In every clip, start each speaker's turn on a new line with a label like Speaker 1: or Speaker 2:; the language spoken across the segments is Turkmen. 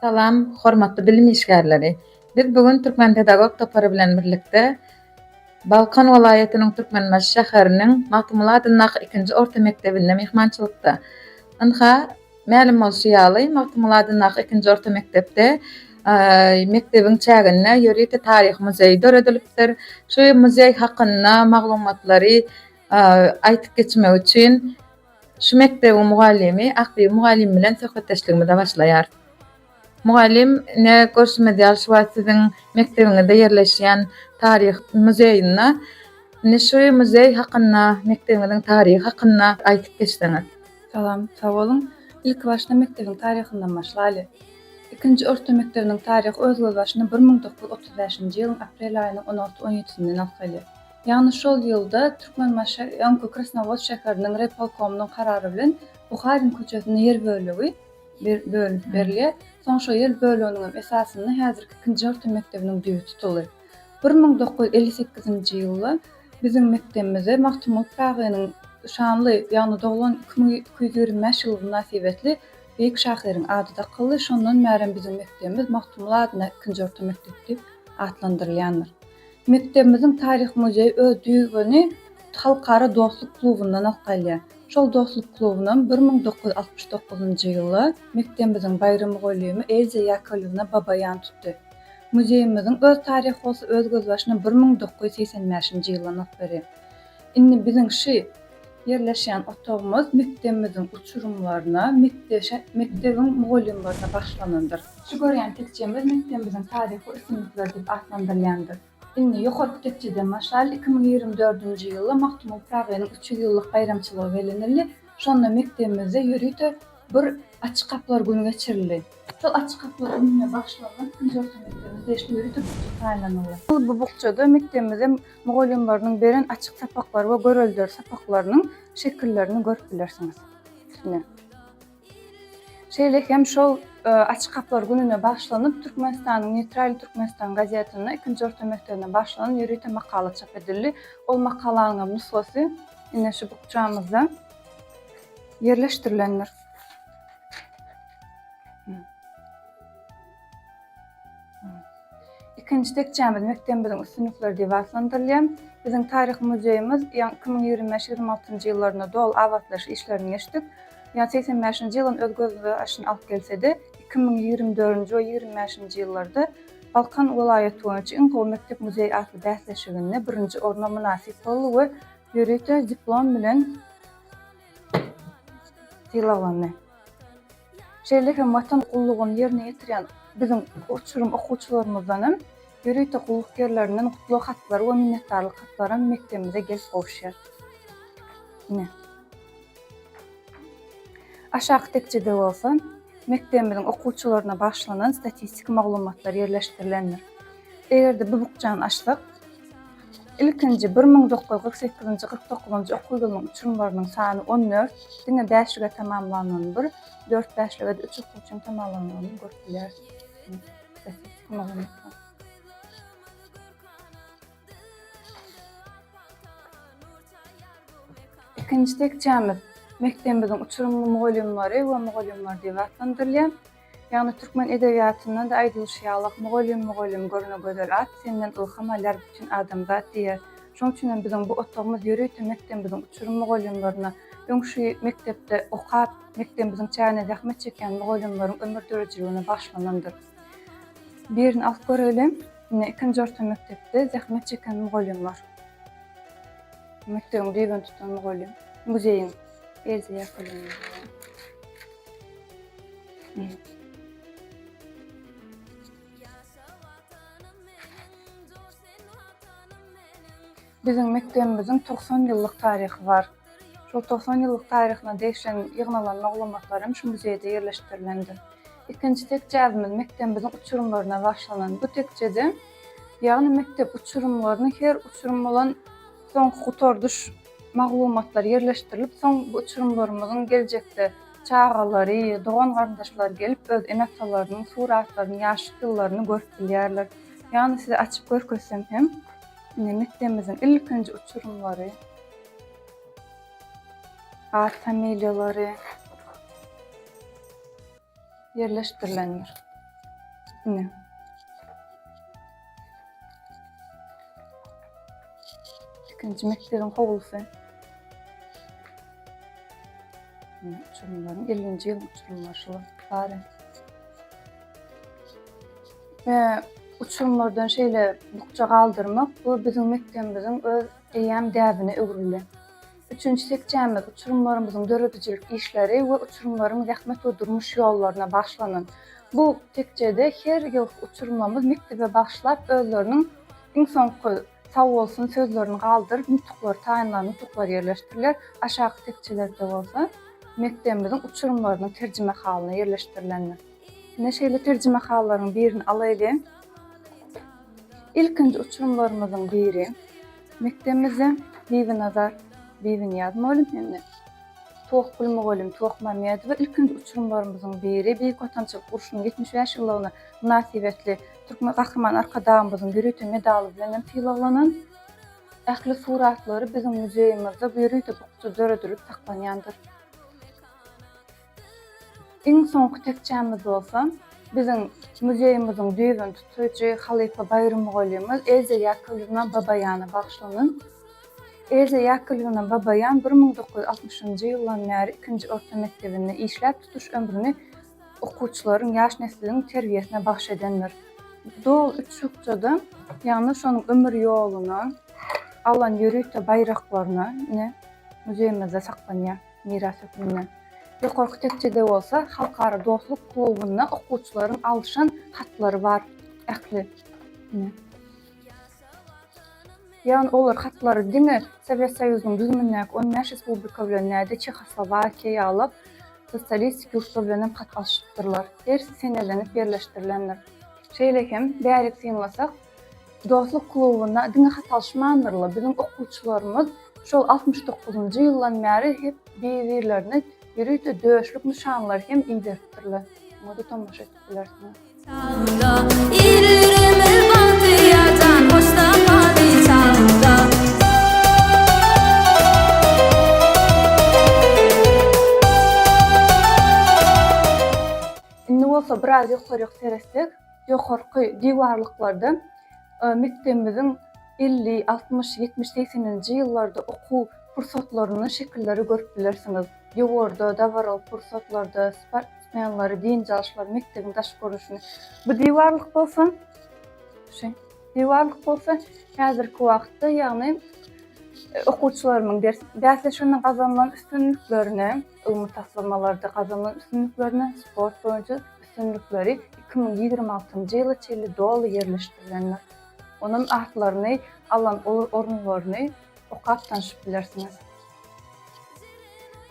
Speaker 1: Salam, hormatly bilim işgärleri! Biz bu gün Türkmen pedagog topary bilen birlikde Balkan welaýatynyň Türkmenbaşy şäheriniň Magtymguly adyndaky ikinji orta mekdebinde myhmançylykda. Ynha, Mälim bolşy ýaly, Magtymguly adyndaky ikinji orta mekdepde mekdebiň çäginde ýörite taryhy muzeý döredilipdir. Şu muzeý hakynda maglumatlary aýdyp geçmek üçin şu mekdebiň mugallymy Akbibi mugallym bilen söhbetdeşligimize başlaýarys. Mugallym, ine, görşümiz ýaly, şu wagt siziň mekdebiňizde ýerleşýän taryh muzeýinde. Indi şu muzeý hakynda, mekdebiňiziň taryhy hakynda aýdyp geçseňiz. Salam, sag
Speaker 2: boluň. Ilkibaşda mekdebiň taryhyndan başlaýly. Ikinji orta mekdebiniň taryhy öz gözbaşyny bir müň dokuz ýüz otuz bäşinji ýylyň aprel aýynyň on alty-on ýedisinden alsaly. Ýagny şol ýylda Türkmenbaşy öňki Krasnowodsk şäheriniň raýpolkomynyň karary bilen Buharin köçesinde ýer bölegi, bölünip berilýär. Soň şo ýer böleginiň hem esasynda häzirki ikinji orta mekdebiniň düýbi tutuldy. Bir müň dokuz ýüz elli sekizinji ýylda biziň mekdebimize Magtymguly Pyragynyň şanly, ýagny doglan iki müň iki ýüz ýigrimi bäş ýyly mynasybetli beýik şahyryň ady dakyldy, şondan bärem biziň mekdebimiz Magtymguly adyna ikinji orta mekdep diýip atlandyrylýandyr. Mekdebimiziň Taryh muzeýi öz düýbüni Halkara dostluk klubyndan alyp galýar. Şol dostluk klubunam bir müň dokuz ýüz altmyş dokuzynjy ýyly mekdebimiziň baýry mugallymy Elza Ýakolýewna Baba ýan tutdy. Muzeýimiziň öz taryhy bolsa öz gözbaşyna bir müň dokuz ýüz segsen bäşinji ýyldan alyp berýär. Indi biziň şy. Ýerleşýän otagymyz mekdebimiziň uçurymlaryna, mekdebiň mugallymlaryna bagyşlanandyr. Şu görýän tekjemiz mekdebimiziň taryhy üstünlikleri diýip atlandyrylýandyr. Indi ýokarky tekjeden başlaýly iki müň ýigrimi dördünji ýylda Magtymguly Pyragynyň üç ýüz ýyllyk baýramçylygy bellenildi. Şonda mekdebimizde ýörite bir Açyk gapylar güni geçirildi. Şol Açyk gapylar gününe bagyşlanan ikinji orta mekdebimiz degişli ýörite bukja taýynlanyldy. Bu bukjada mekdebimize mugallymlarynyň beren açyk sapaklary we göreldeli sapaklarynyň şekillerini görüp bilersiňiz. Ine. Şeýle hem şol Açyk gapylar gününe bagyşlanyp Türkmenistanyň Neýtral Türkmenistan gazetinde ikinji orta mekdebine bagyşlanan ýörite makala çap edildi. Ol makalanyň hem nusgasy ine şu bukjamyzda ýerleşdirilendir. Ikinji tekjämiz mekdebimiziň üstünlikleri diýip atlandyrylýar. Biziň Taryhy muzeýimiz ýa iki müň ýigrimi bäş, ýigrimi altynjy ýyllarynda doly abatlaýyş işlerini geçdik. Ýa segsen bäşinji ýylyň öz gözbaşyny alyp gelse-de, iki müň ýigrimi dördünji we ýigrimi bäşinji ýyllarda Balkan welaýaty boýunça iň gowy mekdep-muzeý atly bäsleşiginde birinji orna mynasyp boldy we ýörite diplom bilen sylaglandy. Şeýle hem Watan gullugyny ýerine ýetirýän biziň uçurym okuwçylarymyzdanam, ýörite gulluk ýerlerinden gutlag hatlary we minnetdarlyk hatlaram mekdebimize gelip gowuşýar. Ine, aşaky tekjede bolsa mekdebimiziň okuwçylaryna bagyşlanan statistiki maglumatlar ýerleşdirilendir. Eger-de bu bukjany açsak, Ilkinji bir müň dokuz ýüz kyrk sekizinji, kyrk dokuzynjy okuw ýylynyň uçurymlarynyň sany on dört, diňe bäşlige tamamlanany bir, dört bäşlige-de üç okuwçynyň tamamlanany görüp bilýärsiňiz. Ikinji tekjämiz mekdebimiziň uçurymly mugallymlary we mugallymlary diýip atlandyrylýar. Ýagny türkmen edebiýatynda-da aýdylyşy ýalak Mugallym mugallym görne gözel at senden ylham alýar bütin adamzat diýýä. Şoň üçinem biziň bu otagymyz ýörite mekdembiziň uçurym mugallymlaryna, öň şu mekdepde okap, mekdembiziň çägine zähmet çekýän mugallymlaryň ömür döredijiligine bagyşlanandyr. Birini alyp göreli, ine ikinji orta mekdepde zähmet çeken mugallymlar. Mekdebiň düýbüni tutan mugallym. Muzeýiň. Ezi ýapylyny. Biziň mekdebimiziň 90 ýyllyk taryhy bar. Şol 90 ýyllyk taryhyna degişen ýygnalan maglumatlar hem şu muzeýde ýerleşdirilendir. Ikinji tekjäbimiz mekdebimiziň uçurymlaryna başlanan. Bu tekjede, ýagny mekdep uçurymlaryny her uçurym bolan soňky gutardyş Maglumatlar ýerleşdirilip soň bu uçurymlarymyzyň geljekde çagalary, dogan-garyndaşlary gelip öz ene-atalarynyň suratlaryny, ýaşlyk ýyllaryny görüp bilýärler. Ýagny size açyp görkezsem hem ine mekdebimiziň ilkinji uçurymlary, at-familiýalary. ýerleşdirilendir. Üstüne. Ikinci mekdebiň howlusy. Uçurumlaryň 50-nji ýylyň uçurymlary şular bary. Ve uçurumlardan şeýle bukja galdyrmak bu biziň mekdebimiziň öz eýýäm däbine öwrüldi. Üçünji tekjämiz uçurymlarymyzyň döredijilik işleri we uçurymlaryň zähmet we durmuş ýollaryna bagyşlanan. Bu tekjede her ýylky uçurymlarymyz mekdebe bagyşlap özleriniň iň soňky sag bolsun sözlerini galdyryp nutuklary taýynlan nutuklar ýerleşdiriler, aşaky tekjelerde bolsa mekdebimiziň uçurymlarynyň terjimehalyna ýerleşdirilendir. Ine şeýle terjimehallaryň birini alaýlyň. Ilkinji uçurymlarymyzyň biri. Mekdebimizden Bibinazar Bibiniýaz mugallym hem-de Tohgül mugallym Tohmamedowa ilkinji uçurymlarymyzyň biri Beýik Watançylyk urşunyň ýetmiş bäş ýyllygyna mynasybetli Türkmen Gahryman Arkadagymyzyň ýörite medaly bilen hem sylaglanan. Ähli suratlary biziň muzeýimizde bu ýörite bukja döredilip saklanýandyr. Iň soňky tekjämiz bolsa, biziň muzeýimiziň düýbüni tutujy halypa Baýram mugallymyz Elza Ýakovlewna Babaýana bagyşlanan. Elza Ýakovlewna Babaýan bir müň dokuz ýüz altmyşynjy ýyldan bäri ikinji orta mekdebinde işläp, tutuş ömrüni okuwçylaryň, ýaş nesliň terbiýesine bagyş edendir. Doly üç bukjada, ýagny şonuň ömür ýoluna, alan ýörite baýraklaryna ine, muzeýimizde saklanýar. miras hökmünde. Ýokarky tekjede bolsa Halkara dostluk klubynda okuwçylaryň alşan hatlary bar. Ähli. Ine. Ýagny olar hatlary diňe Sowet Soýuzynyň düzümindäki on bäş respublika bilen näde Çehoslowakiýa ýaly sosialistik ýurtlar bilenem hat alşypdyrlar. Hersi senelenip ýerleşdirilendir. Şeýle hem, bärik synlasak, Dostluk klubuna diňe hat alyşmandyr-la, biziň okuwçylarymyz şol altmyş dokuzynjy ýyldan bäri hep bir-birlerine ýörite döşlük nyşanlary hem iberipdirler. Muňa da tomaşa edip bilersiňiz. Indi bolsa biraz ýokaryk seretsek, Ýokarky diwarlyklarda mekdebimiziň elli, altmyş, ýetmiş, segseninji ýyllarda okuw pursatlarynyň şekilleri görüp bilersiňiz. Ýowarda, dabaraly pursatlarda, sportsmenleri, dynç alyşlary, mekdebiň daş görnüşini. Bu diwarlyk bolsa, şu diwarlyk bolsa häzirki wagtda, ýagny okuwçylarymyň ders bäsleşiginde gazanylan üstünliklerini, ylmy taslamalarda gazanylan üstünliklerine sport boýunça üstünlikleri iki müň ýigrimi altynjy ýyla çenli doly ýerleşdirilendir. Onuň atlaryny alan uly orunlaryny okap tanşyp bilersiňiz.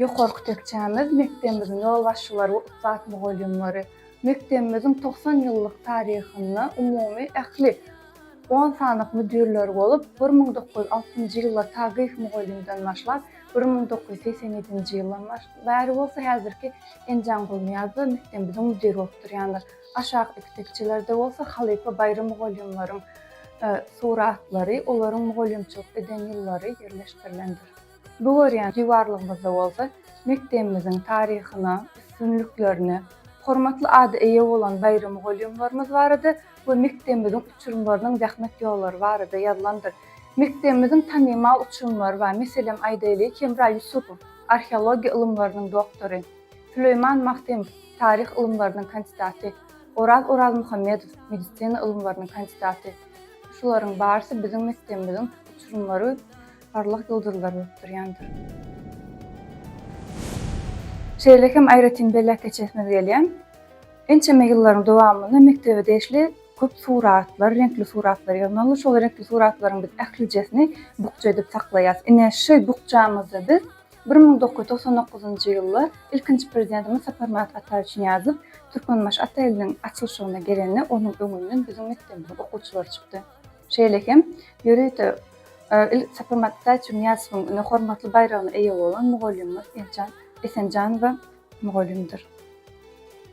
Speaker 2: Ýokarky tekjämiz mekdebimiziň ýolbaşçylary we ussat mugallymlary. Mekdebimiziň togsan ýyllyk taryhynda umumy ähli on sanyk müdirler bolup, bir müň dokuz ýüz altynjy ýylda Tagyýew mugallymdan başlap, Bir müň dokuz ýüz segsen ýedinji ýyldan bäri bolsa häzirki Enjan Gulnyýazda mekdebimiziň müdiri bolup durýandyr. Aşak iki tekjelerde bolsa halypa baýry mugallymlaryň suratlary, olaryň mugallymçylyk eden ýyllary ýerleşdirilendir. Bu görýän diwarlygymyzda bolsa mekdebimiziň taryhyna, üstünliklerine, hormatly ada eýe bolan baýry mugallymlarymyz barada we mekdebimiziň uçurymlarynyň zähmet ýollary barada ýazylandyr. Mekdebimiziň tanymal uçurymlary bar, meselem, aýdaýlyk, Hemra Ýusupow, arheologiýa ylymlarynyň doktory, Süleýman Magtymow, taryh ylymlarynyň kandidaty, Oraz Orazmuhammedow, medisina ylymlarynyň kandidaty. Şularyň barysy biziň mekdebimiziň uçurymlary parlak ýyldyzlar bolup durýandyr. Şeýle hem aýratyn belläp geçesimiz gelýär. Ençeme ýyllaryň dowamynda mekdebe degişli köp suratlar, reňkli suratlar ýygnaldy. Şol reňkli suratlaryň biz ählijesini bukja edip saklaýas. Ine, şy bukjamyzda biz bir müň dokuz ýüz togsan dokuzynjy ýylda ilkinji Prezidentimiz Saparmyrat Ataýewiçnyýazow Türkmenbaşy ata iliniň açylyşygyna gelende onuň öňünden biziň mekdebimiziň okuwçylary çykdy. Şeýle hem ýörite il Saparmyrat Ataýewiçniýazowyň ine hormatly baýragyna eýe bolan mugallymymyz Eljan Esenjanowa Mugallymdyr.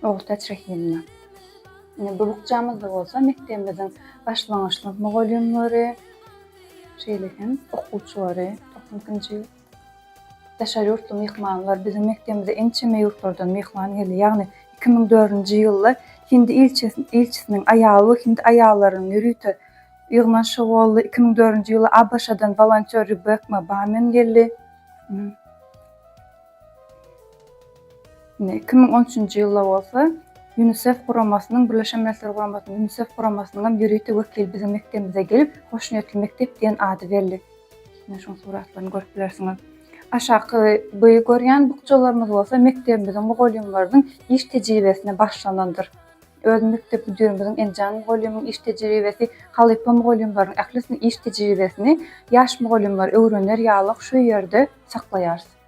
Speaker 2: Ogultäç Rahimna. Ine, bu bukjamyzda bolsa mekdebimiziň başlangyçlyk mugallymlary, şeýle hem okuwçylary, togsan ikinji daşary ýurtly myhmanlar biziň mekdebimize ençeme ýurtlardan myhman geldi. Ýagny iki müň dördünji ýylda hindi ilçisiniň aýaly we hindi aýallarynyň ýörite ýygnanyşy boldy. Iki müň dördünji ýylda ABŞ-dan wolontýor Rebekma Bamen geldi. Iki müň on üçünji ýylda bolsa Ýunisef guramasynyň, Birleşen Milletler Guramasynyň Ýunisef guramasynyňam ýörite wekili biziň mekdebimize gelip, Hoşniýetli mekdep diýen ady berdi. Ine, şoň suratlaryny görüp bilersiňiz. Aşaky by görýän bukjalarymyz bolsa mekdebimiziň mugallymlarynyň iş tejribesine bagyşlanandyr. Öz mekdep müdirimiziň Enjan mugallymyň iş tejribesi, halypa mugallymlaryň ählisiniň iş tejribesini ýaş mugallymlar öwrener ýalyk şu ýerde saklaýarys.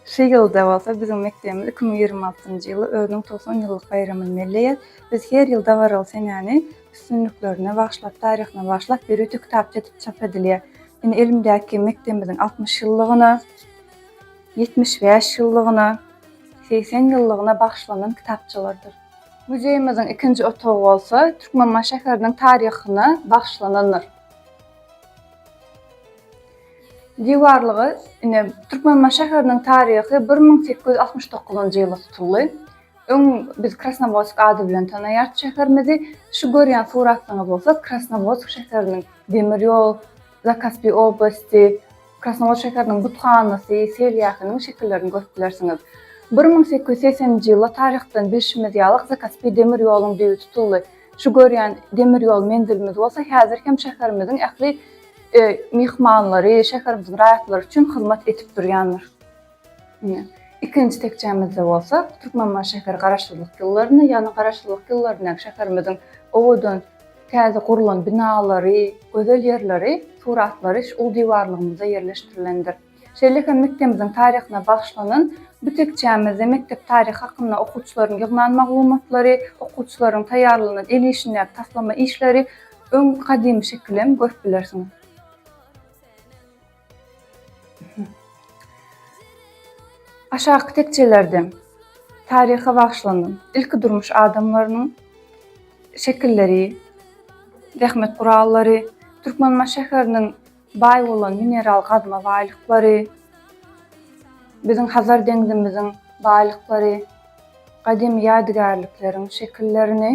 Speaker 2: Şu ýylda bolsa biziň mekdebimiz iki müň ýigrimi altynjy ýyly özüniň togsan ýyllyk baýramyny belleýär. Biz her ýyl dabaraly senäni üstünliklerine bagyşlap, taryhyna bagyşlap ýörite kitapça edip çap edilýär. Indi elimdäki mekdebimiziň altmyş ýyllygyna, ýetmiş bäş ýyllygyna, segsen ýyllygyna bagyşlanan kitapçalardyr. Muzeýimiziň ikinji otagy bolsa Türkmenbaşy şäheriniň taryhyna bagyşlanandyr. Diwarlygy, ine, Türkmenbaşy şäheriniň taryhy bir müň sekiz ýüz altmyş dokuzynjy ýyla tutuldy. Öň biz Krasnowodsk ady bilen tanaýardy şäherimizi. Şu görýän suratlaryňyz bolsa Krasnowodsk şäheriniň demir ýol, Zakaspiý oblasty, Krasnowodsk şäheriniň buthanasy, seýilgähiniň şekillerini görüp bilersiňiz. Bir müň sekiz ýüz segseninji ýyla taryhdan bilşimiz ýaly Zakaspiý demir ýoluň düýbi tutuldy. Şu görýän demir ýol menzilimiz bolsa häzir hem şäherimiziň ähli myhmanlary, şäherimiziň raýatlary üçin hyzmat edip durýandyr. Ine, ikinji tekjämizde bolsa Türkmenbaşy şäheri Garaşsyzlyk ýyllarynda, ýagny Garaşsyzlyk ýyllaryndaky şäherimiziň owadan, täze gurlan binalary, gözel ýerleri, suratlary şu uly diwarlygymyzda ýerleşdirilendir. Şeýle hem mekdebimiziň taryhyna bagyşlanan bu tekjämizde mekdep taryhy hakynda okuwçylaryň ýygnan maglumatlary, okuwçylaryň taýýarlanan el işindäki taslama işleri, öň gadymy şekil hem görüp bilersiňiz. Aşaky tekjelerde taryha bagyşlanan ilki durmuş adamlarynyň şekilleri, zähmet gurallary, Türkmenbaşy şäheriniň Baý bolan mineral gazma baýlyklary, biziň Hazar deňzimiziň baýlyklary, gadymy ýadygärlikleriň şekillerini,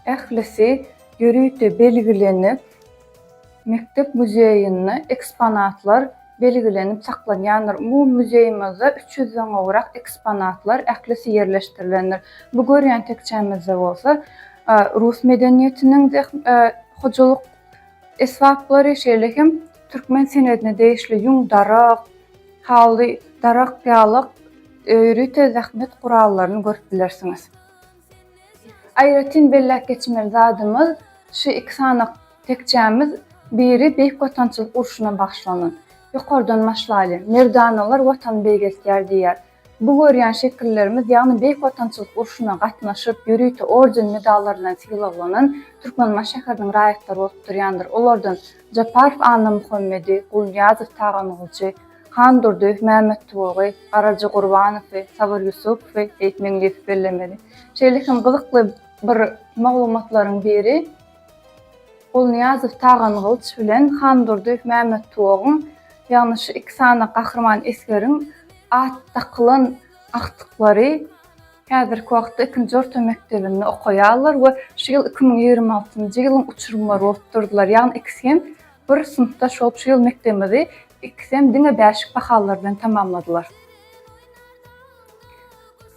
Speaker 2: ählisi ýörite belgilenip, mekdep muzeýinde eksponatlar belgilenip saklanýandyr. Umumy muzeýimizde üç ýüzden gowrak eksponatlar, ählisi ýerleşdirilendir. Bu görýän tekjämizde bolsa, rus medeniýetiniň hojalyk Esbaplary şeýle hem türkmen senedine degişli ýüň, darak, haly, darak, ýalyk, ýörite zähmet gurallaryny görüp bilersiňiz. Aýratyn belläp geçmeli zadymyz, şu iki sany tekjämiz biri Beýik Watançylyk urşuna bagyşlanan. Ýokardan başlaýly, Merdanalar Watany beýgeltýär diýýär. Bu görýän şekillerimiz, ýagny Beýik Watançylyk urşuna gatnaşyp, ýörite orden-medallar bilen sylaglanan Türkmenbaşy şäheriniň raýatlary bolup durýandyr. Olardan Japarow Annamuhammedi, Gulnyýazow Taganguljy, Handurdyýew Mämmettuwagy, Garaja Gurbanowy, Sabyr Ýusupowy diýip meňzeýip bellemeli. Şeýle hem gyzykly bir maglumatlaryň biri, Gulnyýazow Tagan gylyç bilen Handurdyýew Mämmet Tuwagyň, ýagny şu iki sany gahryman esgeriň at dakylan agtyklary häzirki wagtda ikinji orta mekdebinde okaýarlar we şu ýyl iki müň ýigrimi altynjy ýylyň uçurymlary bolup durdylar. Ýagny ikisi hem bir synpdaş bolup şu ýyl mekdebimizi ikisi hem diňe bäşlik bahalar bilen tamamladylar.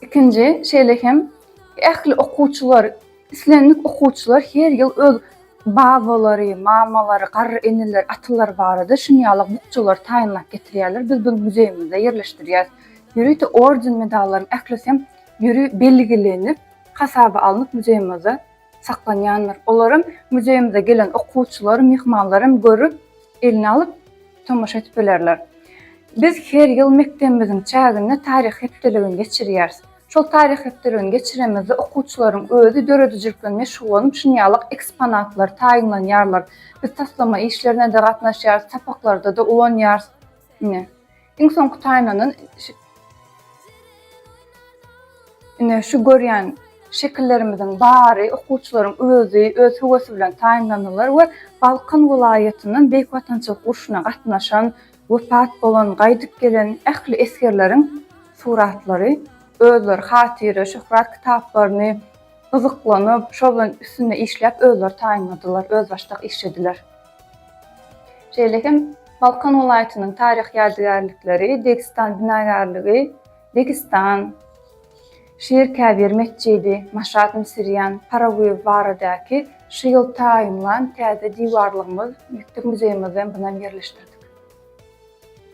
Speaker 2: Ikinji, şeýle hem ähli okuwçylar Islendik okuwçylar her ýyl öz babalary, mamalary, garry eneleri, atalary barada şuny ýaly bukjalary taýynlap getirýärler. Biz bunu muzeýimizde ýerleşdirýäris. Ýörite orden-medallaryň ählisi hem ýöri belgilenip, hasaba alnyp muzeýimizde saklanýandyr. Olary hem muzeýimize gelen okuwçylar, myhmanlar hem görüp, eline alyp, tomaşa edip bilerler. Biz her ýyl mekdebimiziň çäginde taryh hepdeligini geçirýäris. Şol taryhyýetlerini geçiremizde, okuwçylaryň özi döredijilik bilen meşgullanyp, şinýalyk eksponatlary taýynlanýarlar. Biz taslama işlerine-de gatnaşýarys, sapaklarda-da ulanýarys. Ine, iň soňky taýynlanan Ine, şu görýän şekillerimiziň bary okuwçylaryň özi, öz höwesi bilen taýynlandylar we Balkan welaýatyndan Beýik Watançylyk urşuna gatnaşan, Wepat bolan, gaýdyp gelen ähli esgerleriň suratlary, özleri hatyra, şöhrat kitaplaryny gyzyklanyp, şol bilen üstünde işläp, özleri taýynladylar, özbaşdak işlediler. Şeýle hem Balkan welaýatynyň taryhy ýadygärlikleri, Degistan binagärligi, Degistan, Şir Käbir metjidi, Maşat Misirýan, Paraguýew baradaky şu ýyl taýynlan täze diwarlygymyz, mekdep muzeýimizi hem bunam ýerleşdirdik.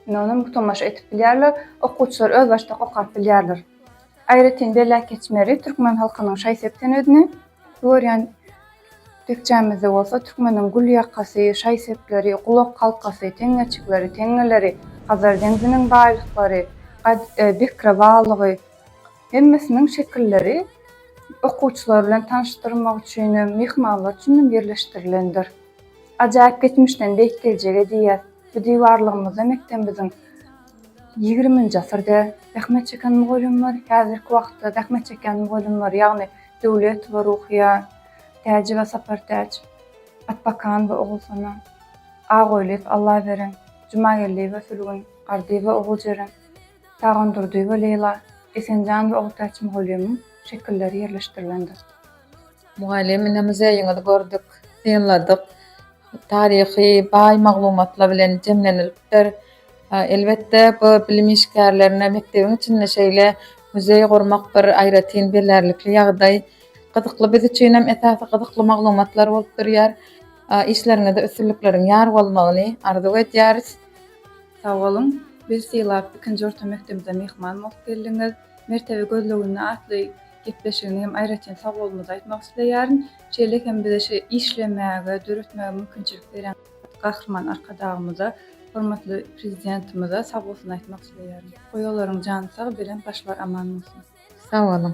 Speaker 2: Indi onam tomaşa edip bilýärler, okuwçylar özbaşdak okap bilýärler. Aýratyn belläp geçmeli, türkmen halkynyň şaý-sep senedini bu görýän tekjämizde bolsa türkmeniň gül ýakasy, şaý-sepleri, gulak halkasy, teňňeçikleri, teňňeleri, Hazar deňziniň baýlyklary, Bekre balygy, Hemmesiniň şekilleri okuwçylar bilen tanyşdyrmak üçin hem, myhmanlar üçin hem ýerleşdirilendir. Ajaýyp geçmişden beýik geljege diýýäs. Bu diwarlygymyzda mekdebimiziň ýigriminji asyrda zähmet çeken mugallymlary, häzirki wagtda zähmet çekýän mugallymlary, ýagny Döwletowa Ruhyýa, Täjewa Sapartäç, Atbakanowa Ogulsona, Agoýlyýew Allaberen, Jumageldiýewa Sülgün, Gardyýewa Oguljeren, Dagan Durdyýewa Leýla Esenjan we Ogtaç mugallymyň şekilleri ýerleşdirilendir. Mugallym
Speaker 1: ine muzeýiňizi gördük, synladyk. Taryhy baý maglumatlar bilen jemlenilipdir. Elbetde bu bilim işgärlerine mekdebiň içinde şeýle muzeý gurmak bir aýratyn bilerlikli ýagdaý. Gyzykly biz üçinem esasy gyzykly maglumatlar bolup durýar. Işleriňizde üstünlikleriň ýar bolmagyny arzuw edýäris. Sag
Speaker 2: boluň, bizi sylap, ikinji orta mekdebimize myhman bolup geldiňiz. Mertebe gözleginde atly gepleşigine hem aýratyn sagbolumy aýtmak isleýärin. Şeýle hem bize şu işlemäge, döretmäge mümkinçilik berýän Gahryman Arkadagymyza, hormatly Prezidentimize sagbolsun aýtmak isleýärin. Goý olaryň jany sag, belent
Speaker 1: başlary
Speaker 2: aman bolsun! Sag boluň!